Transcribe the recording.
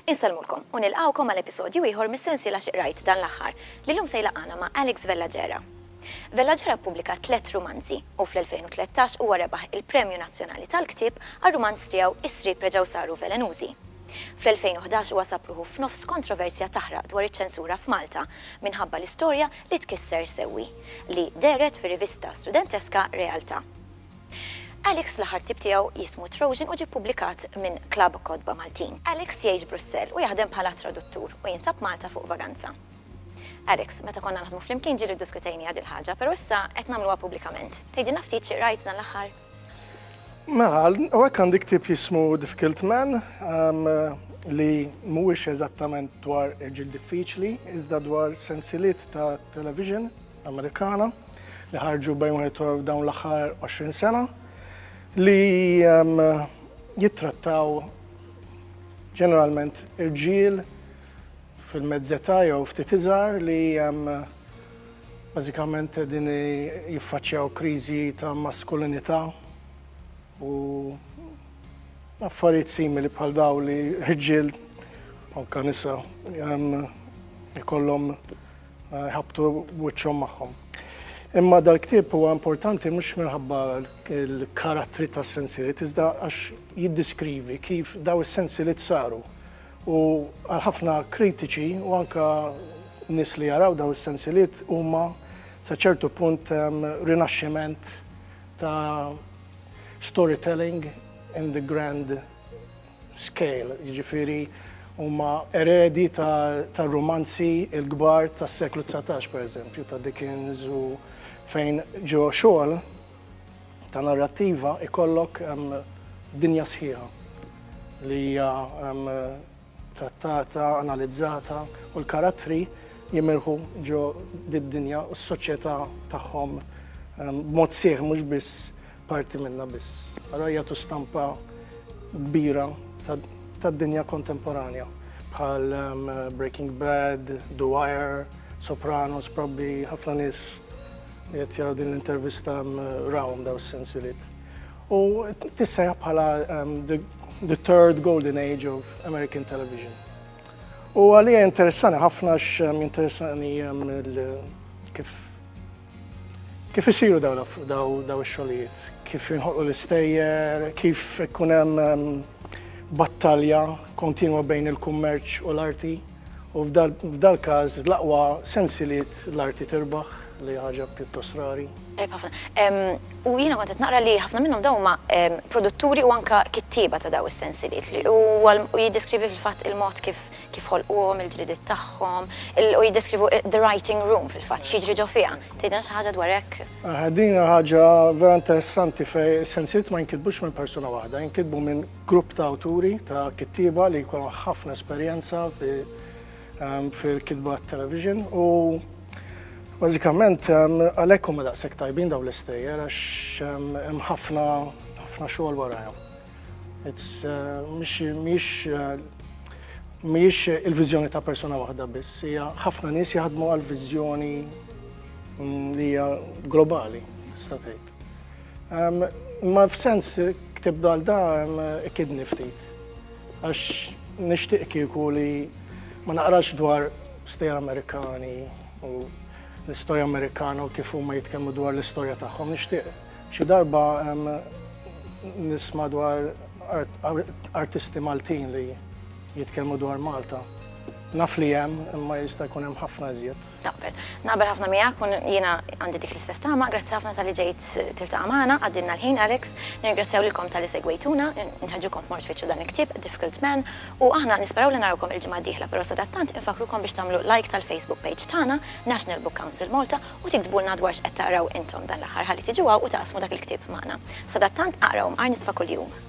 Insalmulkom u nilqawkom għal episodju ieħor mis-sensiela xiqrajt dan l-aħħar li llum se jlaqana ma' Alex Vellagera. Vellagera ppubblika tliet rumanzi u fl-2013 huwa rebaħ il-Premju Nazzjonali tal-Ktieb għar-rumanz tiegħu Is-Sriep Reġgħu Saru Velenużi. Fl-2011 huwa sab ruħu f'nofs kontroversja taħraq dwar iċ-ċensura f'Malta minħabba l-istorja li tkisser sewwi, li dehret fir-rivista studenteska Realtà. Alex l-aħħar ktieb tiegħu jismu Trojan u ġie ppubblikat minn Klabb Kotba Maltin. Alex jgħix Brussell u jaħdem bħala traduttur u jinsab Malta fuq vaganza. Alex, meta konna naħdmu flimkien ġieli ddiskutejniha dil-ħaġa, però issa qed nagħmluha pubblikament. Tgħidilna ftit xi qrajt dan l-aħħar? Mela, u hekk għandi ktieb jismu Difficult Man, ehm, li mhuwiex eżattament dwar irġiel diffiċli, iżda dwar sensiliet ta' television Amerikana li ħarġu bejn wieħed u dawn l-aħħar 20 sena li ehm, jittrattaw ġeneralment irġiel fil-mezzeta jew ftit iżgħar li ehm, Bażikament qegħdin jiffaċċjaw kriżi ta' maskulinità u affarijiet simili bħal daw li ħġiel anke nisa jkollhom eh, ħabtu wiċċhom magħhom. Imma dal-ktieb huwa importanti mhux minħabba l-karattri tas-sensilit, iżda għax jiddiskrivi kif daw is-sensilit saru. U għal ħafna kritiċi u anke nies li jaraw daw is-sensiliet huma sa ċertu punt rinaxximent ta' storytelling in the grand scale, jiġifieri huma eredi ta' rumanzi l-kbar tas-seklu dsatax, pereżempju, ta' Dickens u fejn ġo xogħol ta' narrattiva ikollok dinja sħiħa li hija trattata, analizzata u l-karattri jimirħu ġo did-dinja u s-soċjetà tagħhom b'mod sħiħ mhux biss parti minnha biss. Ara jagħtu stampa kbira tad-dinja kontemporanja bħal Breaking Bad, The Wire, Sopranos, probably ħafna nies Qed jaraw din l-intervista rawhom daw s-sensiliet. U tissejħ bħala the third golden age of American television. U għalija interessani ħafna x-interessani kif kif isiru daw daw xogħlijiet, kif inħolqu l-istejjer, kif ikun hemm battalja kontinwa bejn il-kummerċ u l-arti. U f'dal-każ l-aqwa sensiliet l-arti tirbaħ li hi ħaġa pjuttost rari. Tajjeb ħafna. U jiena kont qed naqra li ħafna minnhom dawn huma produtturi u anke kittieba ta' dawn is-sensiliet li huwa u jiddeskrivi fil-fatt il-mod kif kif ħolquhom, il-ġridiet tagħhom, u jiddeskrivu the writing room fil-fatt, x'jiġri ġo fiha. Tgħidilna xi ħaġa dwar hekk? Din hija ħaġa vera interessanti fejn is-sensiliet ma jinkitbux minn persuna waħda, jinkitbu minn Grupp ta' awturi, ta' kittieba li jkollhom ħafna esperjenza fil-kitba għat-television u bażikament għalhekk huma daqshekk tajbin dawn l-istejjer għax hemm ħafna ħafna xogħol warajhom. Mhijiex il-viżjoni ta' persuna waħda biss, hija ħafna nies jaħdmu għal viżjoni li hija globali tista' tgħid. Um, ma f'sens ktib dal da um, kidni ftit. Għax nishtiq kieku li ma naqrax dwar stejjer Amerikani u l-istorja Amerikana u kif huma jitkellmu dwar l-istorja tagħhom. Nixtieq xi darba um, nisma' dwar art, art, artisti Maltin li jitkellmu dwar Malta. Naf li hemm imma jista' jkun hemm ħafna iżjed. Naqbel. Naqbel ħafna miegħek u jiena għandi dik l-istess tama, grazzi ħafna tal-li ġejt tiltaqa' magħna, għaddilna l-ħin Alex, nirringrazzjaw lilkom tal-li segwejtuna, nħeġġukom tmorru tfittxu dan il-ktieb, Difficult Men, u aħna nisperaw li narawkom il-ġimgħa d-dieħla pero sadattant infakkrukom biex tagħmlu like tal-Facebook page tagħna, National Book Council Malta, u tiktbulna dwar x'qed taqraw intom dan l-aħħar ħalli tiġu hawn u taqsmu dak il-ktieb magħna. Sadattant aqraw mqar nitfa' kuljum.